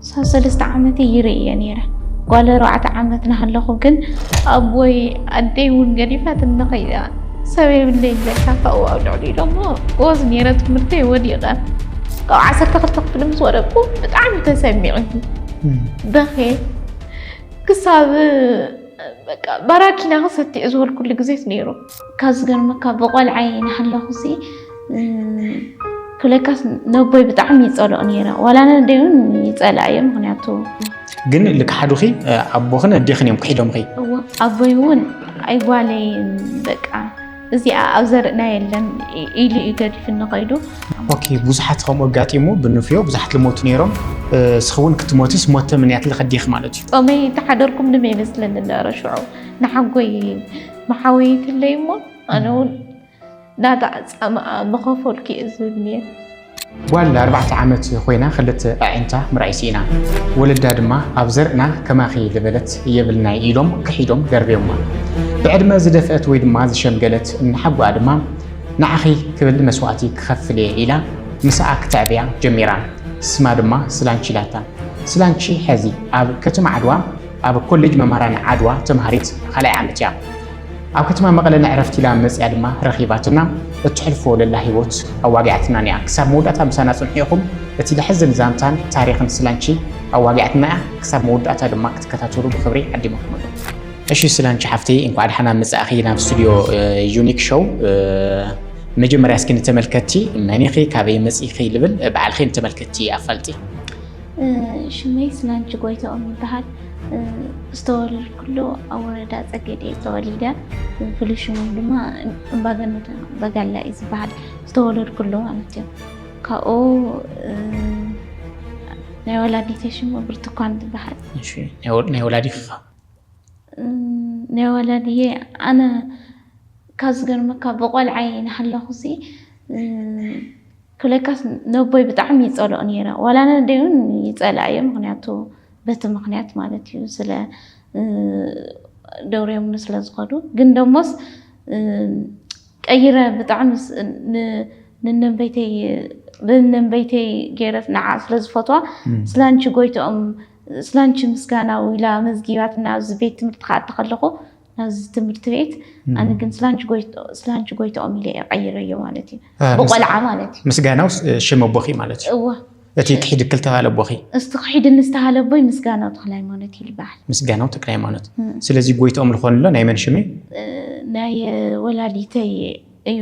ክሳብ ሰለስተ ዓመተይ ይርኢ እየ ነይረ። ጓል ኣርባዕተ ዓመት ናሃለኹ ግን ኣቦይ ኣደይ እውን ገዲፋትኒ ከይዳ ሰብ የብለይን በልካ ካብኡ ኣብ ልዕሊኡ ደሞ ጎበዝ ነይረ ትምህርተይ ወዲቐ ካብ ዓሰርተ ክልተ ክፍሊ ምስ ወደቅኩ ብጣዕሚ ተሰሚዑኒ በኽየ ክሳብ በቃ ባራኪና ክሰቲ ዝበልኩሉ ግዜስ ነይሩ ካብ ዝገርመካ ብቆልዓይ ናሃለኹሲ ክለካስ ነቦይ ብጣዕሚ ይፀልኦ ነይረ ዋላ ነደይ እውን ይፀልኣ እየ ምክንያቱ ግን ልክሓዱኺ ኣቦኽን ኣዴኽን እዮም ክሒዶምኺ ኣቦይ እውን ኣይጓለይ በቃ እዚኣ ኣብ ዘርእና የለን ኢሉ እዩ ገዲፍኒ ከይዱ ኦኬ ብዙሓት ከምኡ ኣጋጢሙ ብንፍዮ ብዙሓት ልሞቱ ነይሮም እስኺ እውን ክትሞትስ ሞተ ምንያት ልኸዲኽ ማለት እዩ ፆመይ ተሓደርኩም ንመ ይመስለኒ ነበረ ሽዑ ንሓጎይ መሓወይትለይ እሞ ኣነ እውን ናታ ፃምኣ ምኸፈልኩ እየ ዝብል ነይረ። ጓል ኣርባዕተ ዓመት ኮይና ክልተ ኣዒንታ ምርኣይ ስኢና፣ ወለዳ ድማ ኣብ ዘርእና ከማኺ ዝበለት የብልናይ ኢሎም ክሒዶም ደርብዮማ። ብዕድመ ዝደፍአት ወይ ድማ ዝሸምገለት እናሓጎኣ ድማ ንዓኺ ክብል መስዋእቲ ክኸፍል እየ ኢላ ምሳኣ ክተዕብያ ጀሚራ። ስማ ድማ ስላንቺ ኢላታ። ስላንቺ ሐዚ ኣብ ከተማ ዓድዋ ኣብ ኮሌጅ መምህራን ዓድዋ ተምሃሪት ካልኣይ ዓመት እያ። ኣብ ከተማ መቐለ ንዕረፍቲ ኢላ መፅያ ድማ ረኺባትና እትሕልፎ ለላ ህይወት ኣዋጊዓትናን እያ። ክሳብ መወዳእታ ምሳና ፅንሑ ኢኹም። እቲ ለሕዝን ዛንታን ታሪኽን ስላንቺ ኣዋጊዓትና እያ። ክሳብ መወዳእታ ድማ ክትከታተሉ ብኽብሪ ዓዲመኩም ኣሎ። እሺ ስላንቺ ሓፍተይ እንኳዕ ደሓና መፃእኺ ናብ ስቱዲዮ ዩኒክ ሾው። መጀመርያ እስኪ ንተመልከትቲ መን ኢኺ ካበይ መፂእኺ ልብል ባዕልኺ ንተመልከትቲ ኣፋልጢ። ሽመይ ስናንቺ ጎይትኦም ይበሃል። ዝተወለድኩሉ ኣብ ወረዳ ፀገዴ እየ ተወሊደ። ፍሉይ ሽሞም ድማ እምባገነት በጋላ እዩ ዝበሃል ዝተወለድኩሉ ማለት እዩ። ካብኡ ናይ ወላዲተይ ሽሙ ብርቱኳን ትበሃል። እሺ ናይ ወ- ናይ ወላዲኻ ናይ ወላዲየ ኣነ ካብ ዝገርመካ ብቆልዓይ ናሃለኹ ሲ ለካስ ነቦይ ብጣዕሚ ይጸልኦ ነይረ ዋላ ነደይ ውን ይጸልኣ እየ ምክንያቱ በቲ ምክንያት ማለት እዩ ስለ ደውርዮምኒ ስለ ዝኸዱ ግን ደሞስ ቀይረ ብጣዕሚ ንነንበይተይ ብነንበይተይ ገይረ ንዓ ስለ ዝፈትዋ ስላንቺ ጎይትኦም ስላንቺ ምስጋናው ኢላ መዝጊባትና ኣብዚ ቤት ትምህርቲ ክኣቲ ከለኹ ናብዚ ትምህርቲ ቤት ኣነ ግን ስላንቺ ጎይትኦም ኢለ እየ ቀይረዮ ማለት እዩ ብቆልዓ ማለት እዩ ምስጋናው ሽም ኣቦኺ ማለት እዩ እወ እቲ ክሒድክ ዝተባሃለ ኣቦኺ እስቲ ክሒድኒ ዝተባሃለ ኣቦይ ምስጋናው ተክለ ሃይማኖት እዩ ዝበሃል ምስጋናው ተክለ ሃይማኖት ስለዚ ጎይትኦም ዝኾንሎ ናይ መን ሽም እዩ ናይ ወላዲተይ እዩ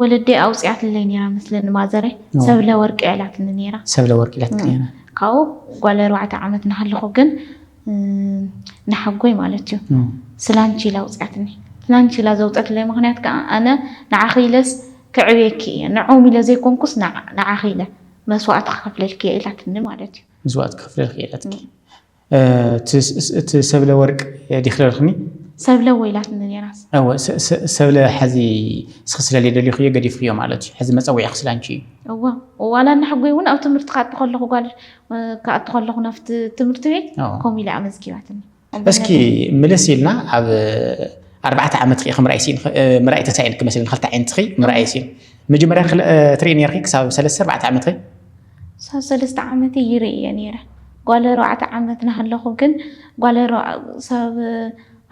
ወለደይ ኣውጺኣትለይ ነይራ መስለኒ ማዘረይ ሰብለ ወርቂ ኣላትኒ ነይራ። ሰብለ ወርቂ ኢላትኪ ነይራ። ካብኡ ጓል ኣርባዕተ ዓመት እናሃለኹ ግን ንሓጎይ ማለት እዩ ስላንቺ ኢላ ኣውጺኣትኒ። ስላንቺ ኢላ ዘውጸትለይ ምኽንያት ከዓ ኣነ ንዓኺ ኢለስ ከዕብየኪ እየ ንዖም ኢለ ዘይኮንኩስ ንዓኺ ኢለ መስዋእቲ ክኸፍለልኪ እየ ኢላትኒ ማለት እዩ። መስዋእቲ ክኸፍለልኪ እየ ኢላትኪ። እቲ ሰብለ ወርቅ ዲኪ ደርክኒ። ሰብለ እወ ኢላትኒ ኔራስ። እወ ሰብለ ሐዚ እስኪ ስለልየ ደሊኩዮ ገዲፍክዮ ማለት እዩ ሐዚ መፀዊዒኪ ስለ ኣንቺ እዩ። እወ ዋላ ንሐጎይ እውን ኣብ ትምህርቲ ክኣቱ ከለኩ ጓል ክኣቱ ከለኩ ናብቲ ትምህርቲ ቤት ከምኡ ኢላ ኣመዝጊባትኒ። እስኪ ምልስ ኢልና ኣብ ኣርባዕተ ዓመትኪ ኢኪ ምርኣይ ሲኢንኪ ምርኣይ ተሳኢንኪ መስለኒ ክልተ ዓይንትኪ ምርኣይ ሲኢንኪ መጀመርያ ትሪኢ ኔርኪ ክሳብ ሰለስተ ኣርባዕተ ዓመትኪ? ክሳብ ሰለስተ ዓመተይ ይርእዮ ነይረ። ጓል ኣርባዕተ ዓመት ናሃለኹ ግን ጓል ክሳብ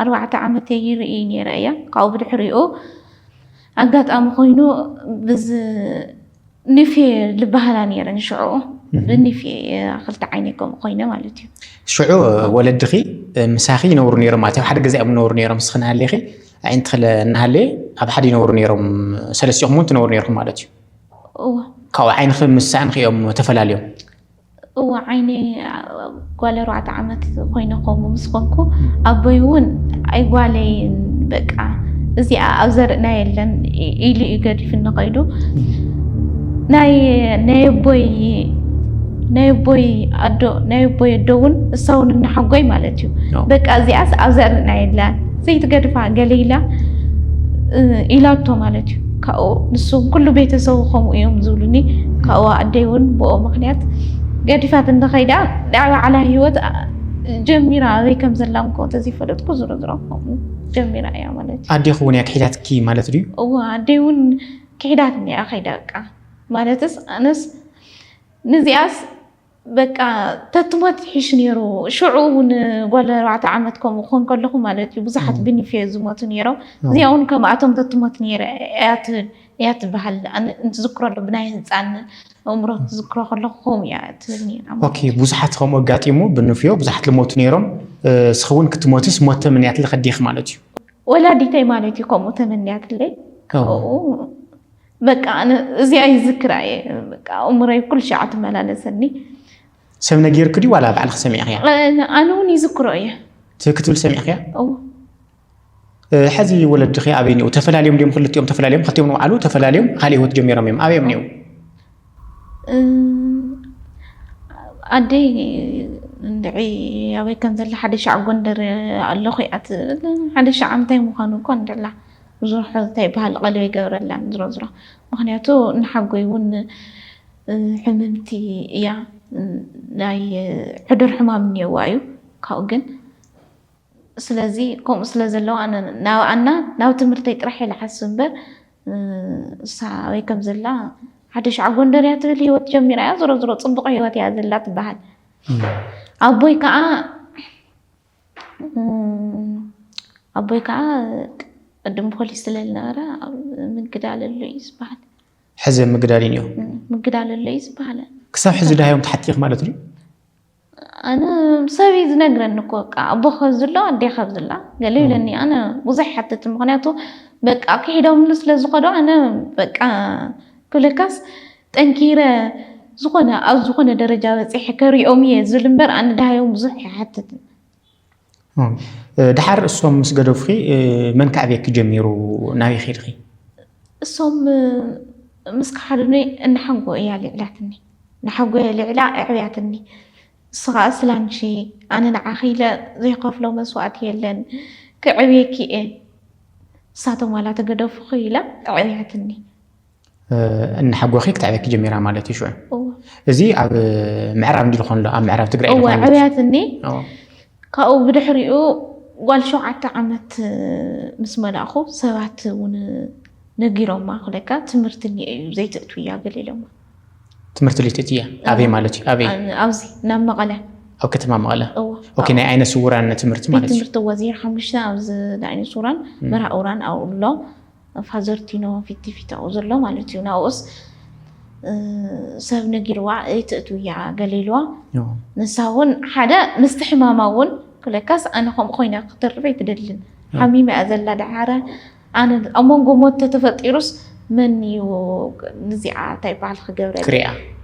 ኣርባዕተ ዓመተይ ይርእይ ነይረ እያ። ካብኡ ብድሕሪኡ ኣጋጣሚ ኮይኑ ብዝ ኒፌ ልበሃላ ነይረን ሽዑኡ ብኒፌ ክልተ ዓይነይ ከምኡ ኮይነ ማለት እዩ። ሽዑ ወለድኺ ምሳኺ ይነብሩ ነይሮም ማለት ኣብ ሓደ ገዛ እዮም ዝነብሩ ነይሮም ንስኺ ናሃለኺ ኣዒንትኺ እናሃለየ ኣብ ሓደ ይነብሩ ነይሮም ሰለስቲኹም እውን ትነብሩ ነይርኩም ማለት እዩ። እወ። ካብኡ ዓይንኺ ምስ ሳእንኺ እዮም ተፈላልዮም? እወ ዓይኒ ጓል ኣርባዕተ ዓመት ኮይነ ከምኡ ምስ ኮንኩ ኣቦይ እውን ኣይ ጓለይ በቃ እዚኣ ኣብ ዘርእና የለን ኢሉ እዩ ገዲፍኒ ከይዱ ናይ ናይ ኣቦይ ናይ ኣቦይ ኣዶ ናይ ኣቦይ ኣዶ እውን እሳ እውን እናሓጎይ ማለት እዩ በቃ እዚኣስ ኣብ ዘርእና የላን ዘይትገድፋ ገለ ኢላ ኢላቶ ማለት እዩ ካብኡ ንሱን ኩሉ ቤተሰቡ ከምኡ እዮም ዝብሉኒ ካብኡ ኣደይ እውን ብኦ ምክንያት ገዲፋት እንተኸይዳ ናይ ባዕላ ሂወት ጀሚራ ኣበይ ከም ዘላ እንኮ ተዘይፈለጥኩ ዝሮ ዝሮ ከምኡ ጀሚራ እያ ማለት እዩ ኣዴኹ እውን እያ ክሒዳትኪ ማለት ድዩ እወ ኣደይ እውን ክሒዳትኒ እያ ከይዳ በቃ ማለትስ ኣነስ ንዚኣስ በቃ ተትሞት ይሕሽ ነይሩ። ሽዑ እውን ጓል ኣርባዕተ ዓመት ከምኡ ክኾን ከለኹ ማለት እዩ ብዙሓት ብኒፌ ዝሞቱ ነይሮም። እዚኣ እውን ከምኣቶም ተትሞት ነይረ እያ ትብል እያ ትበሃል እንትዝክረሉ ብናይ ህፃን እምሮ ትዝክሮ ከለኩ ከምኡ እያ ትብል ኦኬ ብዙሓት ከምኡ ኣጋጢሙ ብንፍዮ ብዙሓት ልሞቱ ነይሮም ስኸውን ክትሞትስ ሞት ተመንያትለ ከዲኽ ማለት እዩ ወላዲተይ ማለት እዩ ከምኡ ተመንያትለይ ካብኡ በቃ ኣነ እዚኣ ይዝክራ እየ በቃ ኣእምሮይ ኩሉ ሻዕ ትመላለሰኒ ሰብ ነጊርክ ድዩ ዋላ ባዕልክ ሰሚዕክያ ኣነ ኣነ እውን ይዝክሮ እየ እቲ ክትብል ሰሚዕክያ እዎ ሕዚ ወለድኺ ኣበይ እኒኡ ተፈላልዮም ድዮም ክልቲኦም ተፈላልዮም ክልቲኦም ንባዕሉ ተፈላልዮም ካልእ ህይወት ጀሚሮም እዮም ኣበዮም እኒኡ ኣደይ እንድዒ ኣበይ ከም ዘላ ሓደ ሻዕ ጎንደር ኣለኹ እያ ትብል ሓደ ሻዕ እንታይ ምዃኑ እኳ እንድላ ብዙሕ እንታይ በሃል ቐልብ ኣይገብረላን ዝሮዝሮ ምኽንያቱ ንሓጎይ ውን ሕምምቲ እያ ናይ ሕዱር ሕማም እንየዋ እዩ ካብኡ ግን ስለዚ ከምኡ ስለ ዘለዋ ኣነ ናብኣና ናብ ትምህርተይ ጥራሕ ኢለ ሓስብ እምበር እሳ ኣበይ ከም ዘላ ሓደ ሸዓ ጎንደር እያ ትብል ሂወት ጀሚራ እያ ዝሮ ዝሮ ፅቡቕ ሂወት እያ ዘላ ትበሃል ኣቦይ ከዓ ኣቦይ ከዓ ቅድም ፖሊስ ስለዝነበረ ምግዳል ኣሎ እዩ ዝበሃል ሕዚ ምግዳል እዩ ምግዳል ኣሎ እዩ ዝበሃል ክሳብ ሕዚ ድሃዮም ተሓቲኽ ማለት እዩ ኣነ ሰብ እዩ ዝነግረኒ እኮ በቃ ኣቦ ከዚ ኣሎ ኣዴ ከዚ ኣላ ገለ ይብለኒ ኣነ ብዙሕ ሓትት ምክንያቱ በቃ ክሒዶምሉ ስለዝኸዱ ኣነ በቃ ክብለካስ ጠንኪረ ዝኾነ ኣብ ዝኾነ ደረጃ በፂሐ ከሪኦም እየ ዝብል እምበር ኣነ ድሃዮም ብዙሕ ኣይሓትትን። ድሓር እሶም ምስ ገደፉኺ መን ከዕብየኪ ጀሚሩ ናበይ ኸድኺ? እሶም ምስ ከሓዱኒ እናሓንጎ እያ ልዕላትኒ ናሓጎ እየ ልዕላ ኣዕብያትኒ እሱ ከዓ ስላንቺ ኣነ ንዓኺ ኢለ ዘይኸፍሎ መስዋእቲ የለን ክዕብየኪ እየ ንሳቶም ዋላ ተገደፉኺ ኢላ ኣዕብያትኒ እናሓጎኺ ክትዕበኪ ጀሚራ ማለት እዩ ሽዑ እዚ ኣብ ምዕራብ እንዲ ዝኾን ኣብ ምዕራብ ትግራይ እወ ዕብያት እኒ ካብኡ ብድሕሪኡ ጓል ሸውዓተ ዓመት ምስ መላእኹ ሰባት እውን ነጊሮማ ክለካ ትምህርቲ እኒ እዩ ዘይትእቱ እያ ገሊሎማ ትምህርቲ ልትእት እያ ኣበይ ማለት እዩ ኣበይ ኣብዚ ናብ መቐለ ኣብ ከተማ መቐለ ኦኬ ናይ ዓይነ ስውራን ትምህርቲ ማለት እዩ ትምህርቲ ወዚር ሓሙሽተ ኣብዚ ናይ ዓይነ ስውራን መርሃ እውራን ኣብኡ ኣሎ ፋዘርቲኖ ፊቲ ፊታኡ ዘሎ ማለት እዩ ናብኡስ ሰብ ነጊርዋ ኣይትእትው እያ ገለ ኢልዋ ንሳ እውን ሓደ ምስቲ ሕማማ እውን ክለካስ ኣነ ከምኡ ኮይና ክትርፍ ኣይትደልን ሓሚማ እያ ዘላ ደሓረ ኣነ ኣብ መንጎ ሞት ተተፈጢሩስ መን እዩ ንዚኣ እንታይ በዓል ክገብረ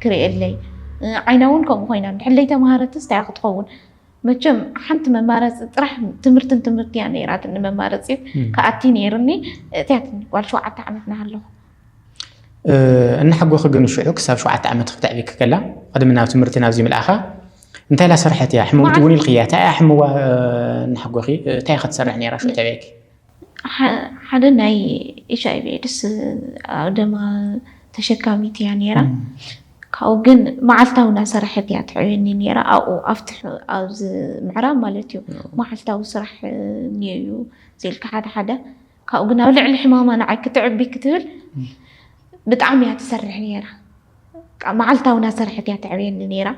ክሪኤለይ ዓይና እውን ከምኡ ኮይና ድሕለይ ተምሃረትስ እንታይ ክትኸውን መቸም ሓንቲ መማረፂ ጥራሕ ትምህርትን ትምህርቲ እያ ነይራትኒ መማረፂ ክኣቲ ነይሩኒ እትያትኒ ጓል ሸውዓተ ዓመት ናሃለኹ እናሓጎኺ ግን ሽዑ ክሳብ ሸውዓተ ዓመት ክተዕቢኪ ከላ ቅድሚ ናብ ትምህርቲ ናብዚ ምልኣኻ እንታይ ላሰርሐት እያ ሕመምቲ እውን ኢልክያ እንታይ እያ ሕምዋ እናሓጎኺ እንታይ እያ ክትሰርሕ ነይራ ሽዑ ተበየኪ ሓደ ናይ ኤች ኣይቪ ኤድስ ደማ ተሸካሚት እያ ነይራ ካብኡ ግን መዓልታዊ እናሰራሐት እያ ትዕብየኒ ነይራ ኣብኡ ኣብቲ ኣብዚ ምዕራብ ማለት እዩ መዓልታዊ ስራሕ እኒኦ እዩ ዘልካ ሓደ ሓደ ካብኡ ግን ኣብ ልዕሊ ሕማማ ንዓይ ክትዕቢ ክትብል ብጣዕሚ እያ ትሰርሕ ነይራ መዓልታዊ እናሰራሐት እያ ትዕብየኒ ነይራ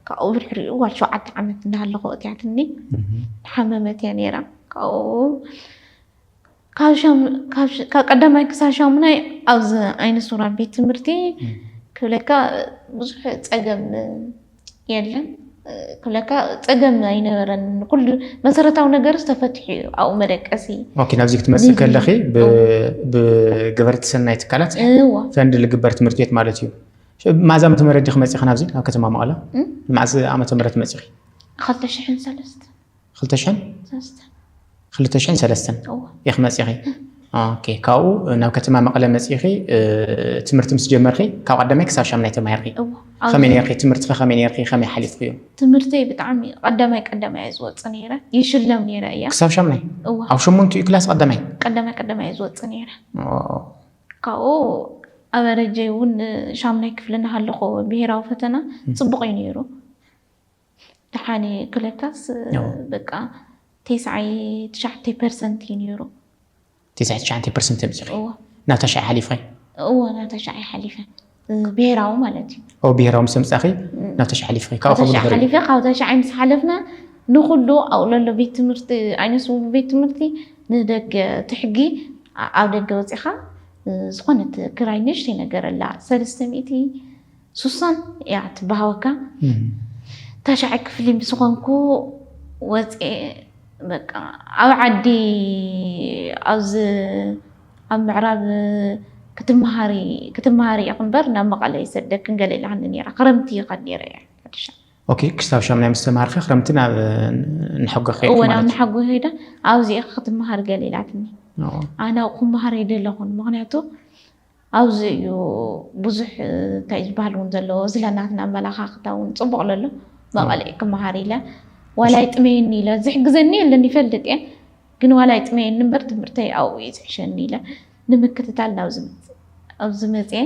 ካብኡ ብድሕሪኡ ጓል ሸውዓተ ዓመት እናሃለኹ እትያትኒ ሓመመት እያ ነይራ ካብ ቀዳማይ ክሳብ ሻሙናይ ኣብዚ ዓይነ ሱራ ቤት ትምህርቲ ክብለካ ብዙሕ ፀገም የለን ክብለካ ፀገም ኣይነበረን ኩሉ መሰረታዊ ነገር ዝተፈትሑ እዩ ኣብኡ መደቀሲ ኦኬ ናብዚ ክትመፅእ ከለኺ ብገበርቲ ሰናይ ትካላት ፈንድ ልግበር ትምህርቲ ቤት ማለት እዩ ማዛ ዓመተ ምህረት ዲኺ መፂኺ ናብዚ ናብ ከተማ መቐለ መዓዝ ዓመተ ምህረት መፂኺ 2003 ክልተ ሽሕን ሰለስተን ኢኺ መጺኺ ኦኬ ካብኡ ናብ ከተማ መቐለ መጺኺ ትምህርቲ ምስ ጀመርኺ ካብ ቀዳማይ ክሳብ ሻምናይ ተማሂርኪ ከመይ ነርኪ ትምህርትኺ ከመይ ነርኪ ከመይ ሓሊፍክዮ ትምህርተይ ብጣዕሚ ቀዳማይ ቀዳማይ እየ ዝወፅ ነይረ ይሽለም ነይረ እያ ክሳብ ሻምናይ ኣብ ሸሞንትኡ ክላስ ቀዳማይ ቀዳማይ ቀዳማይ እየ ዝወፅ ነይረ ካብኡ ኣበረጀይ እውን ሻምናይ ክፍሊ እናሃለኹ ብሄራዊ ፈተና ፅቡቕ እዩ ነይሩ ደሓን እየ ክብለካስ ያው። በቃ ቴስዓይ ትሽዓተ ፐርሰንት እዩ ነይሩ ትስዓተ ትሽዓተ ፐርሰንት ኣምፂኺ እዎ ናብ ታሽዓይ ሓሊፍኺ እዎ ናብ ታሽዓይ ሓሊፈ ብሄራዊ ማለት እዩ ኣብ ብሄራዊ ምስ ኣምፃኺ ናብ ታሽዓይ ሓሊፍኺ ካብኡ ካብ ከምኡ ድሕሪ ሓሊፈ ካብ ታሽዓይ ምስ ሓለፍና ንኩሉ ኣብኡ ለሎ ቤት ትምህርቲ ዓይነ ስውር ቤት ትምህርቲ ንደገ እቲ ሕጊ ኣ- ኣብ ደገ ወፂኻ እ፣ ዝኾነት ክራይ ንእሽተይ ነገር ኣላ ሰለስተ ሚእቲ ሱሳን እያ ትበሃወካ ታሻዐ ክፍሊ ምስኾንኩ ወፅኤ በቃ ኣብ ዓዲ ኣብዚ ኣብ ምዕራብ ክትመሃሪ ክትመሃሪ ኢኺ እምበር ናብ መቐለ ይሰደክን ገለ ኢላትኒ ነይራ ክረምቲ ይኸድ ነይረ እየ ሓድሻ ኦኬ ክሳብ ሻምናይ ምስ ተማሃርኪ ክረምቲ ናብ ንሐጎ ከይድኪ እወ ናብ ማለት ንሓጎ ከይደ ኣብዚ ኢኺ ክትመሃሪ ገለ ኢላትኒ እዩ። ኣነ ክመሃር ኣይደለኹን ምክንያቱ ኣብዚ እዩ ብዙሕ እንታይ ዝበሃል እውን ዘለዎ ስለ ናትና ኣመላኻኽታ እውን ፅቡቕ ለሎ መቐልዒ ክመሃር ኢለ ዋላ ይጥመየኒ ኢለ ዝሕግዘኒ የለን ይፈልጥ እየ ግን ዋላ ይጥመየኒ እምበር ትምህርተይ ኣብኡ እዩ ዝሕሸኒ ኢለ ንምክትታል ናብዚ ኣብዚ መፅኤ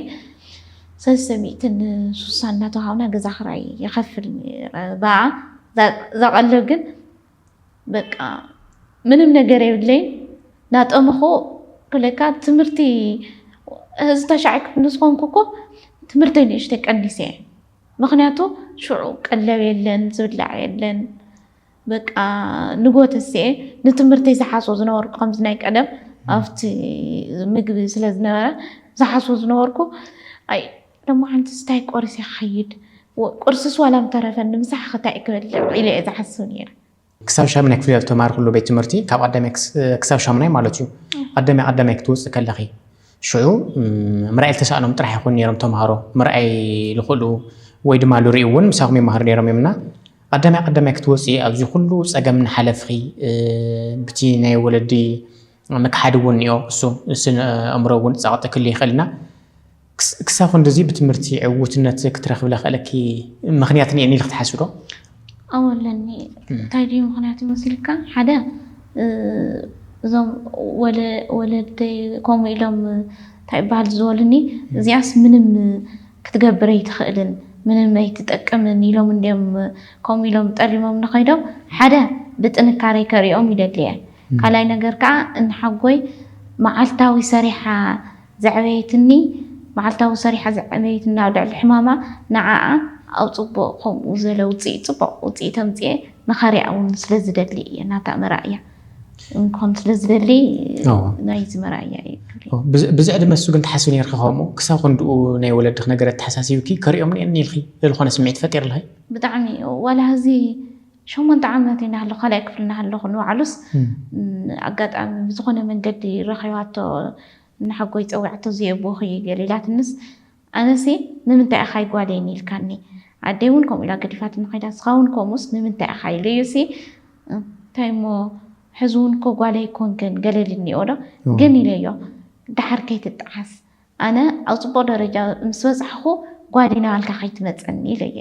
ሰለስተ ሚእትን ሱሳ እናተዋሃብና ገዛ ክራይ ይኸፍል ነይረ በኣ እዛ ቀለብ ግን በቃ ምንም ነገር የብለይን ናጠመኹ ክለካ ትምህርቲ እዚ ተሻዕ ክፍሊ ዝኾንኩ እኮ ትምህርተይ ንእሽተይ ቀኒሰ እየ ምክንያቱ ሽዑ ቀለብ የለን ዝብላዕ የለን በቃ ንጎተስኤ ንትምህርተይ ዝሓስቦ ዝነበርኩ ከምዚ ናይ ቀደም ኣብቲ ምግቢ ስለ ዝነበረ ዝሓስቦ ዝነበርኩ ሎማዓንትስ ታይ ቆሪሰ ክኸይድ ቁርስስ ዋላ ምተረፈኒ ምሳሕኸ ታይ ክበልዕ ኢለ እየ ዝሓስብ ነይረ። ክሳብ ሻምናይ ክፍሊ ኣብ እተማሃርክሉ ቤት ትምህርቲ ካብ ቐዳማይ ክሳብ ሻምናይ ማለት እዩ ቐዳማይ ቐዳማይ ክትወፅኢ ከለኺ ሽዑ ምርኣይ ልተሳእኖም ጥራሕ ይኹኑ ነይሮም ተምሃሮ ምርኣይ ልኽእሉ ወይ ድማ ልሪኡ እውን ምሳኹም ይመሃሩ ነይሮም እዮም እና ቐዳማይ ቐዳማይ ክትወፅኢ ኣብዚ ኩሉ ፀገም እናሓለፍኺ ብቲ ናይ ወለዲ ምክሓድ እውን እዮ እሱ ስነ እምሮ እውን ጸቕጢ ክል ይኽእልና ክሳብ ክንድዚ ብትምህርቲ ዕውትነት ክትረክብ ለኽእለኪ ምክንያት እኒኤኒ ኢልክ ትሓስቢ ዶ? ኣዎ ኣለኒ እንታይ ድዩ ምክንያት ይመስልካ ሓደ እዞም ወለደይ ከምኡ ኢሎም እንታይ ይበሃል ዝበሉኒ እዚኣስ ምንም ክትገብር ኣይትኽእልን ምንም ኣይትጠቅምን ኢሎም እንድዮም ከምኡ ኢሎም ጠሊሞም ንኸይዶም ሓደ ብጥንካረይ ከሪኦም ይደሊ እየ ካልኣይ ነገር ከኣ ንሓጎይ መዓልታዊ ሰሪሓ ዘዕበየትኒ መዓልታዊ ሰሪሓ ዘዕበየትኒ ኣብ ልዕሊ ሕማማ ንዓኣ ኣብ ጽቡቕ ከምኡ ዝበለ ውጽኢት ጽቡቕ ውጽኢት ኣምጺኤ ንኸሪኣ እውን ስለ ዝደሊ እየ ናታ መርኣያ እንኮን ስለ ዝደሊ ናይዚ መርኣያ እዩ ብዚ ዕድመ እሱ ግን ትሓስቢ ነርኪ ከምኡ ክሳብ ክንድኡ ናይ ወለድኽ ነገር ኣተሓሳሲብኪ ከሪኦም ኒኤኒ ኢልኪ ዝኾነ ስምዒት ፈጢርልኺ ብጣዕሚ ዋላ ህዚ ሸሞንተ ዓመት እናሃለኹ ካልኣይ ክፍሊ እናሃለኹ ንባዕሉስ ኣጋጣሚ ብዝኾነ መንገዲ ረኺባቶ ንሓጎይ ፀዊዓቶ እዙይ ኣቦኺ እዩ ገለ ኢላትንስ ኣነሲ ንምንታይ ኢኻ ኣይጓለይን ኢልካኒ ኣደይ እውን ከምኡ ኢላ ገዲፋትኒ ከይዳ ንስኻ እውን ከምኡስ ንምንታይ ኢኻ ኢሉ እዩሲ እንታይ እሞ ሕዚ እውን እኮ ጓለይ ኣይኮንክን ገለ ኢልኒ ኦዶ ግን ኢለዮ ደሓር ከይትጠዓስ ኣነ ኣብ ፅቡቕ ደረጃ ምስ በፃሕኹ ጓደይ ናባልካ ከይትመፀኒ ኢለየ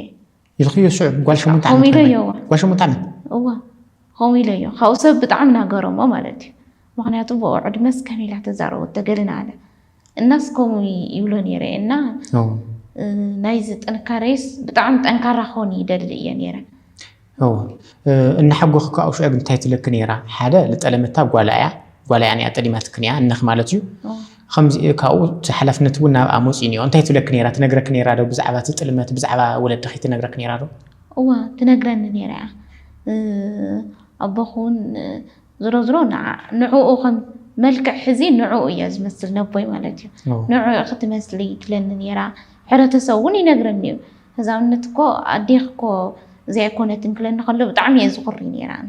ኢልክዮ ሽዑ ጓል ሸሞንተ ዓመት ከምኡ ኢለዮ እዋ ጓል ሸሞንተ ዓመት እዋ ከምኡ ኢለዮ ካብኡ ሰብ ብጣዕሚ ናገረሞ ማለት እዩ ምክንያቱ ብኡ ዕድመስ ከመይ ኢላ ተዛረቦት ተገልን ኣለ እናስ ከምኡ ይብሎ ነይረ እና ናይዚ ጥንካሬስ ብጣዕሚ ጠንካራ ክኾን ይደሊ እየ ነይረ እናሓጎኺ ከዓ ሽዑ ግን እንታይ ትለኪ ነይራ ሓደ ልጠለመታ ጓላ እያ ጓላ እያ ጠሊማትክን እያ እነኽ ማለት እዩ ኸምዚ እዩ ካብኡ እቲ ሓላፍነት እውን ናብኣ መጺኡ እኒኦ። እንታይ ትብለኪ ነይራ? ትነግረኪ ነይራ ዶ ብዛዕባ እቲ ጥልመት ብዛዕባ ወለድኺ ትነግረኪ ነይራ ዶ? እወ ትነግረኒ ነይራ እያ። ኣቦኺ እውን ዝሮዝሮ ንዕኡ ኸም መልክዕ ሕዚ ንዕኡ እየ ዝመስል ነቦይ ማለት እዩ። ንዕኡ ኢኺ ትመስሊ ትብለኒ ነይራ። ሕብረተሰብ እውን ይነግረኒ እዩ። ህዛውነት እኮ ኣዴኺ እኮ እዚኣ ኣይኮነትን ክብለኒ ከሎ ብጣዕሚ እየ ዝኹሪ ነይረ ኣነ።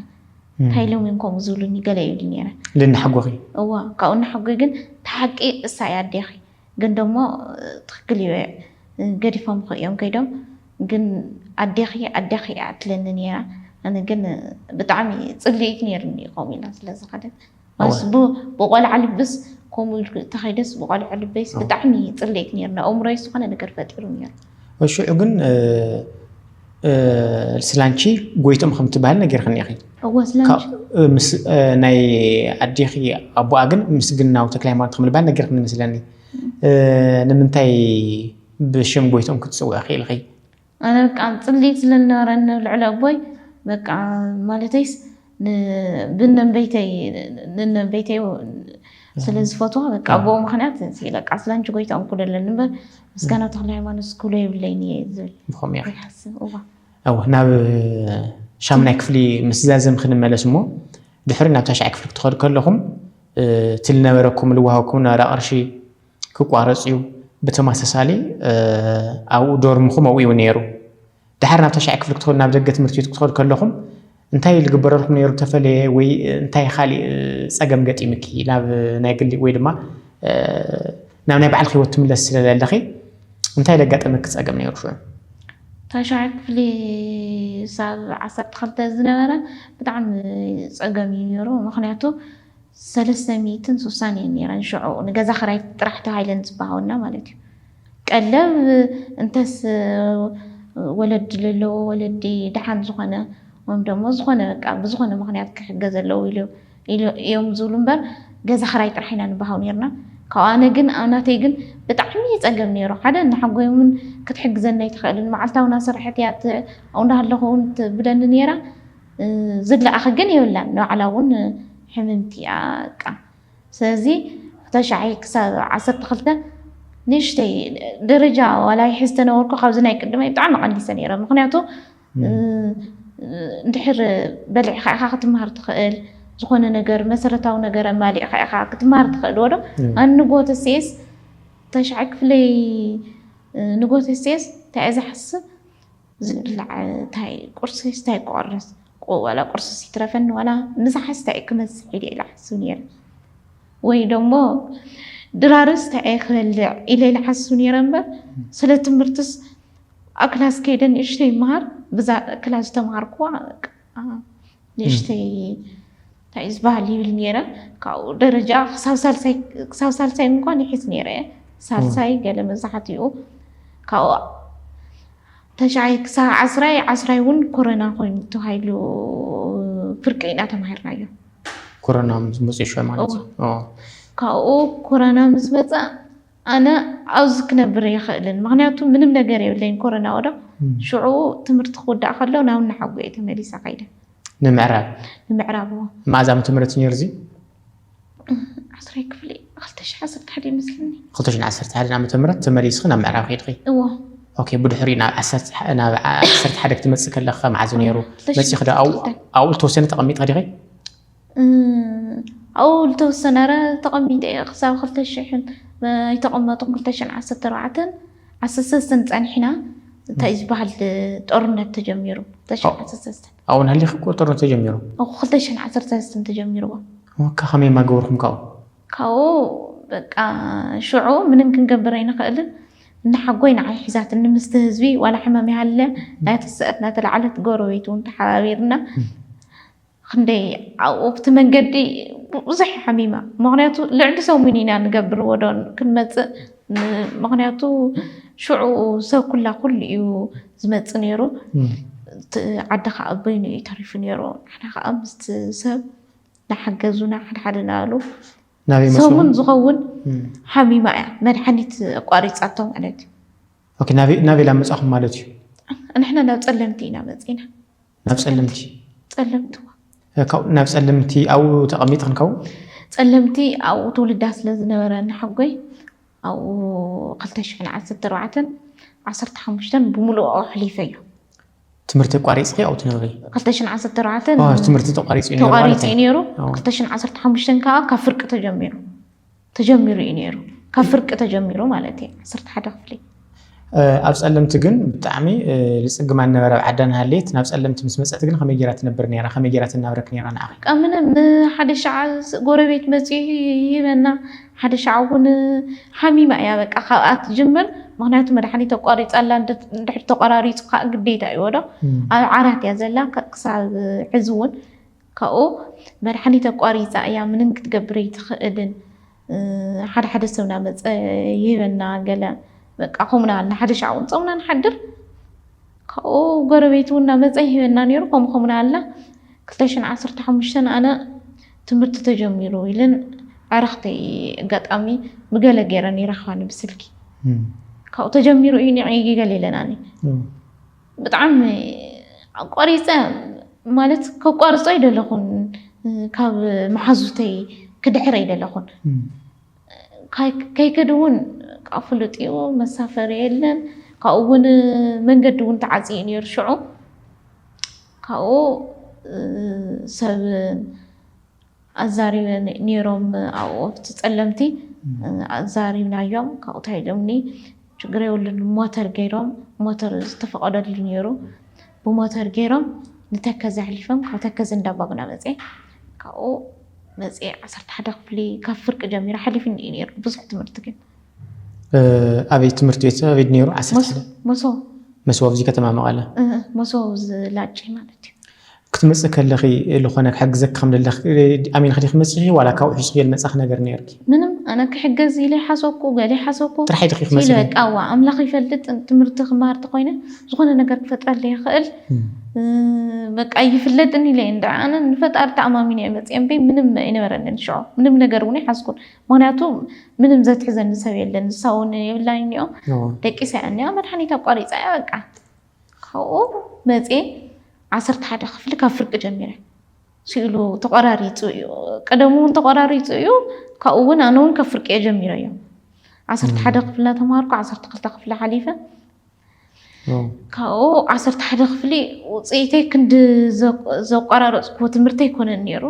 እንታይ ኢሎም እዮም ከምኡ ዝብሉኒ ገለ ይብሊ ነይረ። ልናሕጎኺ? እወ፣ ካብኡ እናሓጎይ ግን እታ ሓቂ እሳ እያ ኣዴኺ፣ ግን ደሞ ትኽክል እዩ ገዲፎምኺ እዮም ከይዶም፣ ግን ኣዴኺ ኣዴኺ እያ ትብለኒ ነይራ፣ ኣነ ግን ብጣዕሚ ጽልኢት ነይሩኒ ከምኡ ኢላ ስለ ዝኸደት። ኣስ ብ ብቆልዓ ልብስ ከምኡ ኢልኩ እተኸይደስ ብቆልዓ ልበይስ ኣዎ። ብጣዕሚ ይጽለይክ ነይሩ ንኣእምሮይ ዝኾነ ነገር ፈጢሩ ነይሩ። ሽዑ ግን እ ስላንቺ ጎይትኦም ከም እትበሃሊ ነጊርክኒ ኢኺ። እወ ስላንቺ ካብ ምስ ናይ ኣዴኺ ኣቡኣ ግን ምስግናው ተክለሃይማኖት ከም ልበሃል ነጊርክኒ መስለኒ። እ ንምንታይ ብሽም ጎይትኦም ክትጽውዒ ክኢልኺ? ኣነ በቃ ጽሊኢት ስለዝነበረኒ ንልዕሊ ኣቦይ በቃ ማለተይስ ብነንበይተይ ስለዝፈትዋ በቃ ኣቦኡ ምክንያት በቃ ስላንቺ ጎይታ እንኩሎ ኣለኒ እምበር ምስጋና ተክለ ሃይማኖት ስኩሎ የብለይን እየ ዝብል ይሓስብ እዋ እወ ናብ ሻምናይ ክፍሊ ምስ ዛዘም ክንመለስ እሞ ድሕሪ ናብ ታሽዓይ ክፍሊ ክትኸዱ ከለኹም እቲ ዝነበረኩም ዝወሃብኩም ነበረ ቅርሺ ክቋረጽ እዩ። ብተማሳሳሊ ኣብኡ ዶርምኹም ኣብኡ እዩ ነይሩ። ደሓር ናብ ታሽዓይ ክፍሊ ክትኸዱ ናብ ደገ ትምህርቲ ቤት ክትኸዱ ከለኹም እንታይ ዝግበረልኩም ነይሩ ተፈለየ ወይ እንታይ ኻሊእ ጸገም ገጢምኪ ናብ ናይ ግሊ ወይ ድማ ናብ ናይ ባዕልኺ ህይወት ትምለሲ ስለ ዘለኺ እንታይ ዘጋጠመኪ ጸገም ነይሩ ሽዑ? ታሽዓይ ክፍሊ ሳብ ዓሰርተ ክልተ ዝነበረ ብጣዕሚ ጸገም እዩ ነይሩ ምኽንያቱ ሰለስተ ሚእትን ሱሳን እየን ነይረን ሽዑ ንገዛ ክራይ ጥራሕ ተባሂለን ዝበሃወና ማለት እዩ ቀለብ እንተስ ወለዲ ዘለዎ ወለዲ ድሓን ዝኾነ ወይም ደሞ ዝኾነ በቃ ብዝኾነ ምክንያት ክሕገ ዘለው ኢሉ እዮም ዝብሉ እምበር ገዛ ክራይ ጥራሕ ኢና ንበሃው ነርና ካብኡ ኣነ ግን ናተይ ግን ብጣዕሚ ይፀገም ነይሩ ሓደ እናሓጎይ እውን ክትሕግዘኒ ኣይትኽእልን መዓልታዊ እናሰራሐት እያ ኣብኡ እናሃለኹ እውን ትብለኒ ነይራ ዝብላዕኺ ግን የብላን ንባዕላ ውን ሕምምቲ እያ እቃ ስለዚ ክተሻሒ ክሳብ ዓሰርተ ክልተ ንእሽተይ ደረጃ ዋላ ይሕዝ ተነበርኩ ካብዚ ናይ ቅድመይ ብጣዕሚ ቀኒሰ ነይረ ምክንያቱ እንድሕር በሊዕካ ኢኻ ክትምሃር ትኽእል ዝኾነ ነገር መሰረታዊ ነገር ኣማሊዕካ ኢኻ ክትምሃር ትኽእል ወዶ ኣን ንጎተሴስ ተሻዕ ክፍለይ ንጎተሴስ እንታይ እየ ዝሓስብ ዝብላዕ ታይ ቁርስስ ታይ ክቆርስ ዋላ ቁርስስ ይትረፈኒ ዋላ ምሳ ሓስታ እየ ክመፅእ ኢለ ኢለ ሓስብ ነይረ ወይ ደሞ ድራርስ ታይ እየ ክበልዕ ኢለ ኢለ ሓስብ ነይረ እምበር ስለ ትምህርትስ ኣብ ክላስ ከይደ ንእሽተይ ይመሃር ብዛ ክላስ ዝተምሃርኩዋ ንእሽተይ እንታይ እዩ ዝበሃል ይብል ነይረ ካብኡ ደረጃ ክሳብ ሳልሳይ ክሳብ ሳልሳይ እንኳን ይሕዝ ነይረ ሳልሳይ ገለ መብዛሕትኡ ካብኡ ተሽዓይ ክሳብ ዓስራይ ዓስራይ እውን ኮረና ኮይኑ ተባሂሉ ፍርቂ ኢና ተማሂርናዮ ኮረና ምስ መፅኡ ማለት ካብኡ ኮረና ምስ መፀ ኣነ ኣብዚ ክነብር ኣይኽእልን ምኽንያቱ ምንም ነገር የብለይን ኮረና ወዳ ሽዑ ትምህርቲ ክውዳእ ከሎ ናብ እናሓጎ እየ ተመሊሰ ከይደ ንምዕራብ ንምዕራብ መዓዝ ዓመተ ምህረት ነይሩ እዚ ዓስራይ ክፍሊ ክልተ ሽሕ ዓሰርተ ሓደ ይመስለኒ ክልተ ሽሕ ዓሰርተ ሓደ ዓመተ ምህረት ተመሊስኺ ናብ ምዕራብ ከይድኺ እዎ ኦኬ ብድሕሪ ናብ ዓሰርተ ሓደ ክትመፅእ ከለካ መዓዝ ነይሩ መፂኺ ዶ ኣብኡ ዝተወሰነ ተቐሚጥካ ዲኺ ኣብኡ ልተወሰነ እረ ተቐሚጠ እየ ክሳብ ክልተ ሽሕን ኣይተቐመጡን ክልተ ሽሕን ዓሰርተ ኣርባዕተን ዓሰርተ ሰለስተን ጸኒሕና እንታይ ዝበሃል ጦርነት ተጀሚሩ ክልተ ሽሕን ዓሰርተ ሰለስተን ኣብኡ ናህሊኺ እኮ ጦርነት ተጀሚሩ ኣብኡ ክልተ ሽሕን ዓሰርተ ሰለስተን ተጀሚርዎ ወካ ከመይ ማገበርኩም ካብኡ ካብኡ በቃ ሽዑ ምንም ክንገብር ኣይንኽእልን እናሓጎይ ንዓይ ሒዛትኒ ምስቲ ህዝቢ ዋላ ሕመም ይሃለ ናይ ትስእት ናተላዕለት ጎረቤት እውን ተሓባቢርና ኽንደይ ኣብኡ ኣብቲ መንገዲ ብዙሕ ሓሚማ ምክንያቱ ልዕሊ ሰሙን ኢና ንገብር ወዶ ክንመፅእ ምክንያቱ ሽዑ ሰብ ኩላ ኩሉ እዩ ዝመፅእ ነይሩ ዓዲ ከዓ በይኑ እዩ ተሪፉ ነይሩ ንሕና ከዓ ምስቲ ሰብ ናሓገዙና ሓደ ሓደ ናበሉ ሰሙን ዝኸውን ሓሚማ እያ መድሓኒት ኣቋሪፃቶ ማለት እዩ ናበይ ናበይ ላመፃኹም ማለት እዩ ንሕና ናብ ፀለምቲ ኢና መፂና ናብ ጸለምቲ ጸለምቲ ካብኡ ናብ ጸለምቲ ኣብኡ ተቐሚጥክን ካብኡ ጸለምቲ ኣብኡ ትውልዳ ስለ ዝነበረ ንሓጎይ ኣብኡ ክልተ ሽሕን ዓሰርተ ኣርባዕተን ዓሰርተ ሓሙሽተን ብምሉኡ ኣሕሊፈዮ። ትምህርቲ ኣቋሪጽኪ ኣብኡ ትነብሪ? ክልተ ሽሕን ዓሰርተ ኣርባዕተን ትምህርቲ ተቋሪጹ እዩ ነይሩ ማለት እዩ። ተቋሪጹ እዩ ነይሩ። ክልተ ሽሕን ዓሰርተ ሓሙሽተን ከኣ ካብ ፍርቂ ተጀሚሩ ተጀሚሩ እዩ ነይሩ ካብ ፍርቂ ተጀሚሩ ማለት እዩ ዓሰርተ ሓደ ክፍሊ ኣብ ፀለምቲ ግን ብጣዕሚ ልፅግማ ነበረ ኣብ ዓዳ ናሃለየት ናብ ፀለምቲ ምስ መፀት ግን ከመይ ጌራ ትነብር ነራ ከመይ ጌራ ትናብረክ ነራ ንዓኺ በቃ ምንም ሓደ ሻዕ ጎረቤት መፅኡ ይህበና ሓደ ሻዕ እውን ሓሚማ እያ በቃ ካብኣ ትጅምር ምክንያቱ መድሓኒት ኣቋሪፃ ኣላ ድሕሪ ተቋራሪፁ ከዓ ግዴታ እዩ ወዶ ኣብ ዓራት እያ ዘላ ክሳብ ሕዚ እውን ካብኡ መድሓኒት ኣቋሪፃ እያ ምንም ክትገብር ኣይትኽእልን ሓደ ሓደ ሰብ ናመፀ ይህበና ገለ በቃ ከምኡ ናበልና ሓደ ሻዕ እውን ፆምና ንሓድር ካብኡ ጎረቤት እውን ናመፀ ይህበና ነይሩ ከምኡ ከምኡ ናበልና ክልተ ሽሕን ዓሰርተ ሓሙሽተን ኣነ ትምህርቲ ተጀሚሩ ኢልን ዕረኽተይ ኣጋጣሚ ብገለ ገይረን ይረኽባኒ ብስልኪ ካብኡ ተጀሚሩ እዩ ኒዐ ገለ ኢለናኒ ብጣዕሚ ኣቋሪፀ ማለት ከቋርፆ ኣይደለኹን ካብ መሓዙተይ ክድሕር ኣይደለኹን ከይከድ እውን ካብ ፍሉጥ እዩ መሳፈሪ የለን ካብኡ እውን መንገዲ እውን ተዓፂ እዩ ነይሩ ሽዑ ካብኡ ሰብ ኣዛሪበ ኔሮም ኣብኡ ኣብቲ ጸለምቲ ኣዛሪብናዮም ካብኡ ታይ ኢሎምኒ ችግር የብሉን ብሞተር ገይሮም ሞተር ዝተፈቐደሉ ኔሩ ብሞተር ገይሮም ንተከዘ ኣሕሊፎም ካብ ተከዘ እንዳባጉና መጼ ካብኡ መጼ ዓሰርተ ሓደ ክፍሊ ካብ ፍርቂ ጀሚረ ሓሊፍኒ እዩ ኔሩ ብዙሕ ትምህርቲ ግን ኣበይ ትምህርቲ ቤት ኣበይ ኔሩ ዓሰርተ ሓደ መሶ መሶ ኣብዚ ከተማ መቐለ መሶ ዝላጭ ማለት እዩ ክትመጽኢ ከለኺ ልኾነ ክሕግዘኪ ከም ደለኺ ኣሚንኺ ዲኺ መጺኺ ዋላ ካብኡ ሒሱ ጌል መጻኺ ነገር ኔርኪ? ምንም ኣነ ክሕገዝ ኢለ ሓሰብኩ ገለ ሓሰብኩ ጥራሓይ ዲኺ ክትመጺ ኢለ በቃ እዋ ኣምላኽ ይፈልጥ ትምህርቲ ክማሃር ተኾይነ ዝኾነ ነገር ክፈጥረለይ ይኽእል በቃ ይፍለጥኒ ኢለ እንድዒ ኣነ ንፈጣሪ ተኣማሚነ እየ መጺኤ እምበይ ምንም ኣይነበረንን ሽዑ ምንም ነገር እውን ኣይሓዝኩን ምኽንያቱ ምንም ዘትሕዘኒ ሰብ የለን ንሳ እውን የብላይን እኒኦ ደቂሳ እያ እኒኣ መድሓኒት ኣቋሪጻ እያ በቃ ካብኡ መፅየ ዓሰርተ ሓደ ክፍሊ ካብ ፍርቂ ጀሚረ ስእሉ ተቆራሪፁ እዩ ቀደሙ እውን ተቆራሪፁ እዩ ካብኡ እውን ኣነ እውን ካብ ፍርቂ እየ ጀሚረ እዮም ዓሰርተ ሓደ ክፍሊ እናተምሃርኩ ዓሰርተ ክልተ ክፍሊ ሓሊፈ ካብኡ ዓሰርተ ሓደ ክፍሊ ውፅኢተይ ክንዲ ዘቋራረፅኩዎ ትምህርቲ ኣይኮነን ነይሩ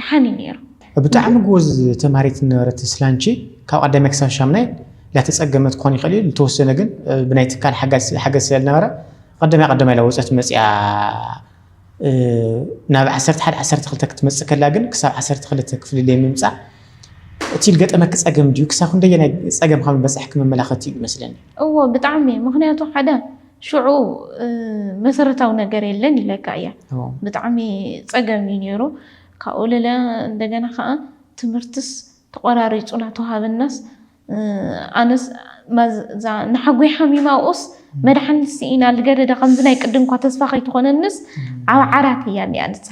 ደሓን እዩ ነይሩ። ብጣዕሚ ጎበዝ ተምሃሪት ዝነበረት ስላንቺ ካብ ቀዳማይ ክሳብ ሻምናይ ላተፀገመት ክኾን ይኽእል እዩ ልተወሰነ ግን ብናይ ትካል ሓገዝ ስለልነበረ ቐዳማይ ቐዳማይ ላወፀት መፂኣ ናብ ዓሰርተ ሓደ ዓሰርተ ክልተ ክትመፅእ ከላ ግን ክሳብ ዓሰርተ ክልተ ክፍሊ ለይምምፃእ እቲ ልገጠመኪ ፀገም ድዩ ክሳብ ክንደየናይ ፀገም ከም ልበፀሕኪ መመላኸቲ እዩ መስለኒ። እዎ ብጣዕሚ ምኽንያቱ ሓደ ሽዑ መሰረታዊ ነገር የለን ኢለካ እያ ብጣዕሚ ፀገም እዩ ነይሩ ካብኡ ልለ እንደገና ከዓ ትምህርትስ ተቆራሪፁና ተዋሃብናስ ኣነስ ንሓጎይ ሓሚማ ኣብኡስ መድሓኒት ስኢና ልገደደ ከምዚ ናይ ቅድም እኳ ተስፋ ከይትኾነንስ ኣብ ዓራት እያ እኒኣ ንሳ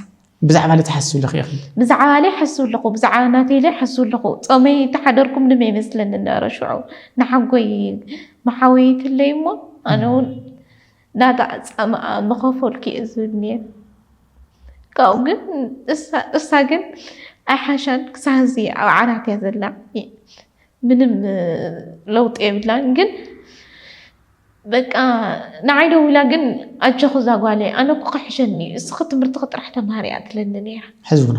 ብዛዕባ ለቲ ሓስብ ኣለኺ ኢኺ። ብዛዕባ ለይ ሓስብ ኣለኹ። ብዛዕባ ናተይ ለይ ሓስብ ኣለኹ። ጸመይ እንተሓደርኩም ንመ ይመስለኒ ነረ ሽዑ ንሓጎይ መሓወይትለይ እሞ ኣነ ውን ናታ ጻማኣ ምኸፈልኩ እየ ዝብል ነይረ ካብኡ ግን እሳ ግን ኣይሓሻን ክሳብ ሕዚ ኣብ ዓራት እያ ዘላ ምንም ለውጢ የብላን ግን በቃ ንዓይ ደዊላ ግን ኣጀኹ እዛ ጓለይ ኣነ እኮ ክሕሸኒ እዩ እስኺ ትምህርትኺ ጥራሕ ተምሃሪ እያ ትብለኒ ነይራ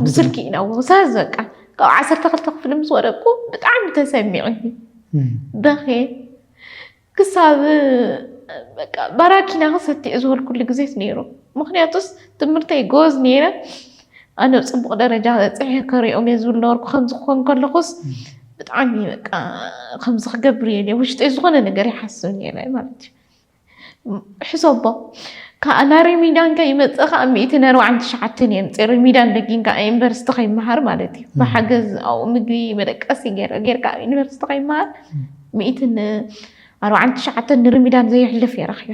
ብስልኪ ኢና ውሳዝ በቃ ካብ ዓሰርተ ክልተ ክፍሊ ምስ ወደቅኩ ብጣዕሚ ተሰሚዕኒ በኼ ክሳብ በቃ ባራኪና ክሰቲዕ ዝበልኩሉ ግዜት ነይሩ ምክንያቱስ ትምህርተይ ጎዝ ነይረ ኣነ ኣብ ፅቡቕ ደረጃ በፂሐ ክሪኦም እየ ዝብል ነበርኩ። ከምዚ ክኾን ከለኹስ ብጣዕሚ በቃ ከምዚ ክገብር እየ ኢለ ውሽጠይ ዝኾነ ነገር ይሓስብ ነይረ ማለት እዩ። ሕሰቦ ከዓ ናብ ሪሚዳን ከይመፀ ከዓ ሚእቲ ኣርባዓን ትሽዓተን እየ ምፅእ ሪሚዳን ደጊም ከዓ ዩኒቨርሲቲ ከይመሃር ማለት እዩ ብሓገዝ ኣብኡ ምግቢ መደቀሲ ገይረ ጌርካ ኣብ ዩኒቨርሲቲ ከይመሃር ሚእትን ኣርባዓን ትሽዓተን ንሪሚዳን ዘየሕልፍ እየ ረኪበ